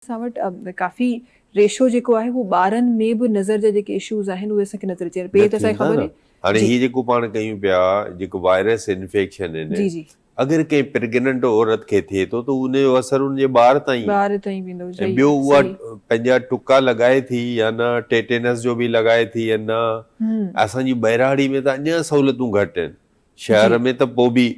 اسان وٽ ڪافي ريشو جيڪو آهي اهو ٻارن ۾ به نظر جا جيڪي اشوز آهن اهي اسان کي نظر اچي رهيا آهن پهرين ته اسان کي خبر هئي هاڻي هي جيڪو پاڻ ڪيون پيا جيڪو وائرس انفيڪشن آهن اگر ڪنهن پريگننٽ عورت کي ٿئي ٿو ته ان جو اثر ان جي ٻار تائين ٻار تائين ويندو ۽ ٻيو اها پنهنجا ٽڪا لڳائي ٿي يا نه ٽيٽينس جو به لڳائي ٿي يا نه اسان جي ٻهراڙي ۾ ته اڃان سهولتون گهٽ آهن شهر ۾ ته پوء به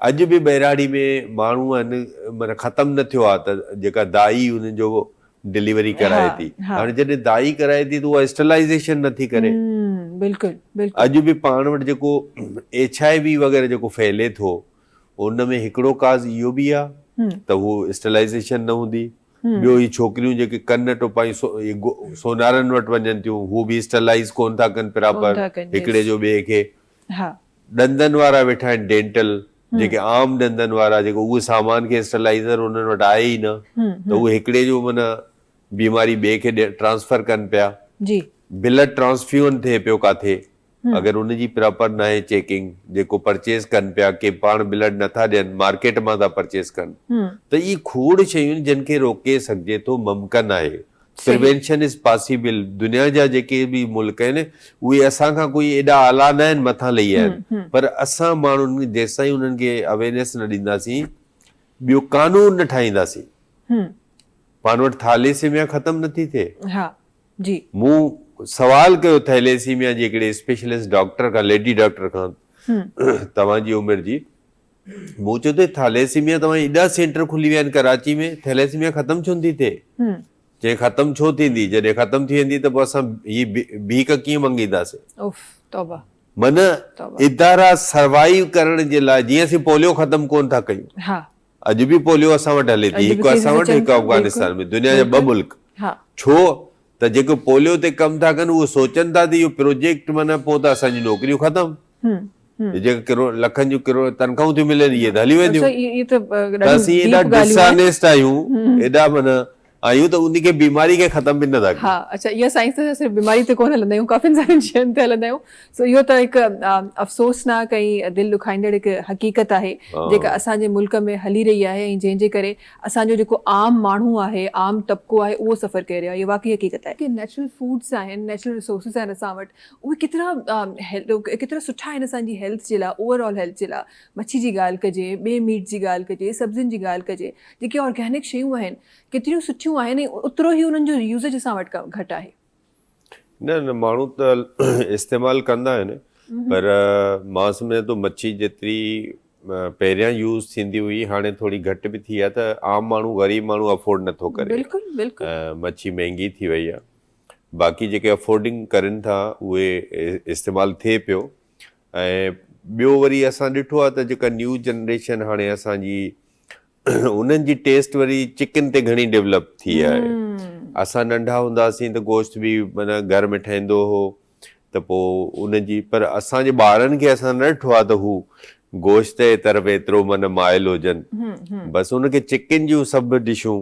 اڄ به ٻهراڙي ۾ ماڻهو آهن معنيٰ ختم نه ٿيو آهي ته جيڪا دائي انهن جو ڊليوري ڪرائي ٿي هاڻي جڏهن دائي ڪرائي ٿي ته اها اسٽلائيزيشن نه ٿي ڪري اڄ به پاڻ وٽ جيڪو ايڇ آء وي وغيره جيڪو ڦهلي ٿو ان ۾ هڪڙو ڪاز اهو به آهي ته هو اسٽلائيزيشن نه هوندي ٻيو هي ڇوڪريون جيڪي ڪن ٽپائي سونارن وٽ وڃن ٿيون هو به اسٽلائيز ڪونه ٿا ڪن پراپر هڪڙي جو ٻئي کي ها. ڏندن وارا ويٺا آهن ڊينٽل جيڪي عام ڏندن وارا جيڪو اهو سامان کي اسٽرلائيزر انهن وٽ آهي ئي نه ته اهي هڪڙي جو معنيٰ بيماري ٻئي کي ٽرانسفر ڪن پيا بلڊ ٽرانسفيون ٿئي پيو ڪاٿي اگر ان جي پراپر ناهي چيڪنگ جيڪو پرچيز ڪن پيا ڪي پاڻ بلڊ نٿا ڏين مارڪيٽ مان ٿا پرچيز ڪن ته اهي کوڙ شيون جن کي روڪي سگهجي ٿو ممڪن آهي پريوينشن از پاسيبل دنيا جا جيڪي به ملڪ آهن اهي اسان کان ڪوئي ايڏا اعليٰ نه آهن مٿان لهي آيا آهن پر اسان ماڻهن جيستائين انهن کي اويرنيس نه ڏينداسين ٻيو قانون نه ٺاهينداسين پاڻ وٽ ٿاليسيميا ختم نٿي ٿئي مون سوال ڪيو ٿيليسيميا جي هڪڙي اسپيشلسٽ ڊاڪٽر کان ليڊي ڊاڪٽر کان توهان جي عمر جي مون چيو ته ٿاليسيميا توهان جي ايڏا سينٽر کلي ويا آهن ڪراچي ۾ ٿيليسيميا ختم ڇو نٿي ٿئي؟ چيائين ختم ڇو ٿيندي جڏهن ختم ٿي ويندي ته پوء اسان هي ڀيڪ ڪيئن منگينداسين؟ اوف توبه. معنيٰ ادارا سروائيو ڪرڻ جي لاء جيئن اسين پوليو ختم ڪونه ٿا ڪيون اڄ به پوليو اسان وٽ هلي ٿي هڪ اسان وٽ هڪ افغانستان ۾ دنيا جا ٻه ملڪ ڇو ته جيڪي پوليو تي ڪم ٿا ڪن اهي سوچن ٿا ته اهو پروجيڪٽ معنيٰ پوء ته اسان جون نوڪريون ختم جيڪي ڪروڙ لکن جون ڪروڙ تنخواهون ٿيون ملن اهي ته هلي وينديون ته اسين ايڏا ڊسانيسٽ آهيون ايڏا معنيٰ آهيون ته ان کي بيماري کي ختم به نه ٿا ڪيون ها اڇا اها سائنس ته صرف بيماري تي ڪونه هلندا آهيون ڪافين سارين شين تي هلندا آهيون سو اهو ته هڪ افسوسناڪ ۽ دل ڏکائيندڙ هڪ حقيقت آهي جيڪا اسان جي ملڪ ۾ هلي رهي آهي ۽ جنهن جي ڪري اسان جو جيڪو عام ماڻهو آهي عام طبقو آهي اهو سفر ڪري رهيو آهي اهو واقعي حقيقت آهي جيڪي نيچرل فوڊس آهن نيچرل ريسورسز آهن اسان وٽ اهي ڪيترا ڪيترا سٺا آهن اسان جي هيلٿ جي لاء اوور آل هيلٿ جي لاء مڇي جي ڳالهه ڪجي ٻي ميٽ جي ڳالهه ڪجي سبزين جي ڳالهه ڪجي جيڪي آرگينڪ شيون آهن ڪيتريون سٺيون آهن ۽ اوترو ئي انهن جو يوزج اسان وٽ گهٽ آهي نه نه ماڻهو ته استعمال ڪندا آهن پر مان سمجهان ٿو مڇي جيتري پهريان يوز ٿيندي هئي هاڻي ٿوري گهٽ به ٿي آهي ته عام ماڻهو غريب ماڻهو افورڊ نٿو ڪري بلڪل بلڪل مڇي مهنگي ٿي وئي آهي باقي جيڪي افورڊنگ ڪرين ٿا اهي استعمال ٿئي پيو ۽ ٻيو وري اسان ڏٺو آهي ته جيڪا نيو جنريشن هاڻي اسان جي انهن جي ٽيسٽ وري چڪن تي گهڻي ڊيولپ ٿي آهي اسان ننڍا هونداسين ته گوشت به مانا گهر ۾ ٺهندو هو ته پوء ان جي پر اسان جي ٻارن کي اسان نه ڏٺو آهي ته هو گوشت جي طرف ايترو مانا مائل هجن بس ان کي چڪن جون سڀ ڊشون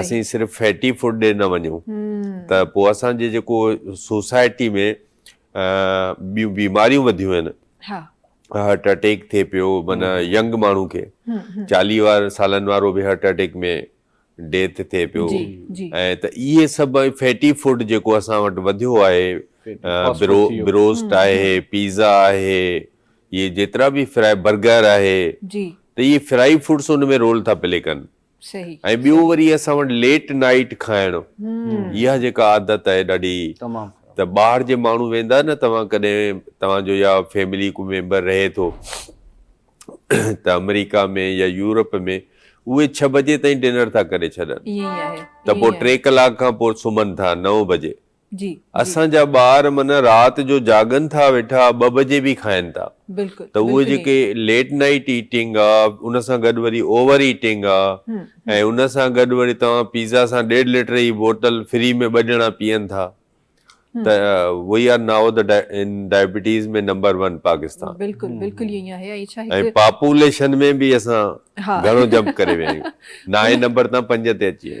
اسين صرف فيٽي فوڊ ڏي نه وڃون ته پوء اسان جي جيڪو سوسائٽي ۾ ٻيون بيماريون وڌيون آهن هارٽ اٽيڪ ٿئي پيو معنيٰ ينگ ماڻهو کي چاليهه وارن سالن وارو به هارٽ اٽيڪ ۾ ڊيٿ ٿئي پيو ۽ ته اهي سڀ فيٽي فوڊ جيڪو اسان وٽ وڌيو آهي بروسٽ آهي پيزا آهي اهي جيترا به فرائي برگر آهي ته اهي فرائي فوڊس ان ۾ رول ٿا پلي ڪن ۽ ٻيو وري اسان وٽ ليٽ نائيٽ کائڻ اها جيڪا عادت آهي ڏاڍي ته ٻاهر جي ماڻهو ويندا نه توهان ڪڏهن توهان جو يا فيملي ڪو ميمبر رهي ٿو ته آمريڪا ۾ يا يورپ ۾ اهي ڇهه بجي تائين ڊنر ٿا ڪري ڇڏن ته پوء ٽي ڪلاڪ کان پوء سمهن ٿا نو بجي جي اسان جي جا ٻار معنيٰ رات جو جاڳن ٿا ويٺا ٻه بجي به کائن ٿا بلڪل ته اهي بلڪل جيڪي ائين ليٽ نائيٽ ايٽنگ آ ان سان گڏ وري اوور ايٽنگ آ هم ۽ هم ان سان گڏ وري توهان پيزا سان ڏيڍ لٽر جي بوٽل فري ۾ ٻه ڄڻا پيئن ٿا هم ته وي آر نائو ته ان ڊائبيٽيز ۾ نمبر ون پاڪستان بلڪل بلڪل ائين آهي ۽ ڇا هڪ ۽ پاپوليشن ۾ به اسان ها گهڻو جمپ ڪري ويا آهيون نائين نمبر تان پنج تي اچي ويا آهيون.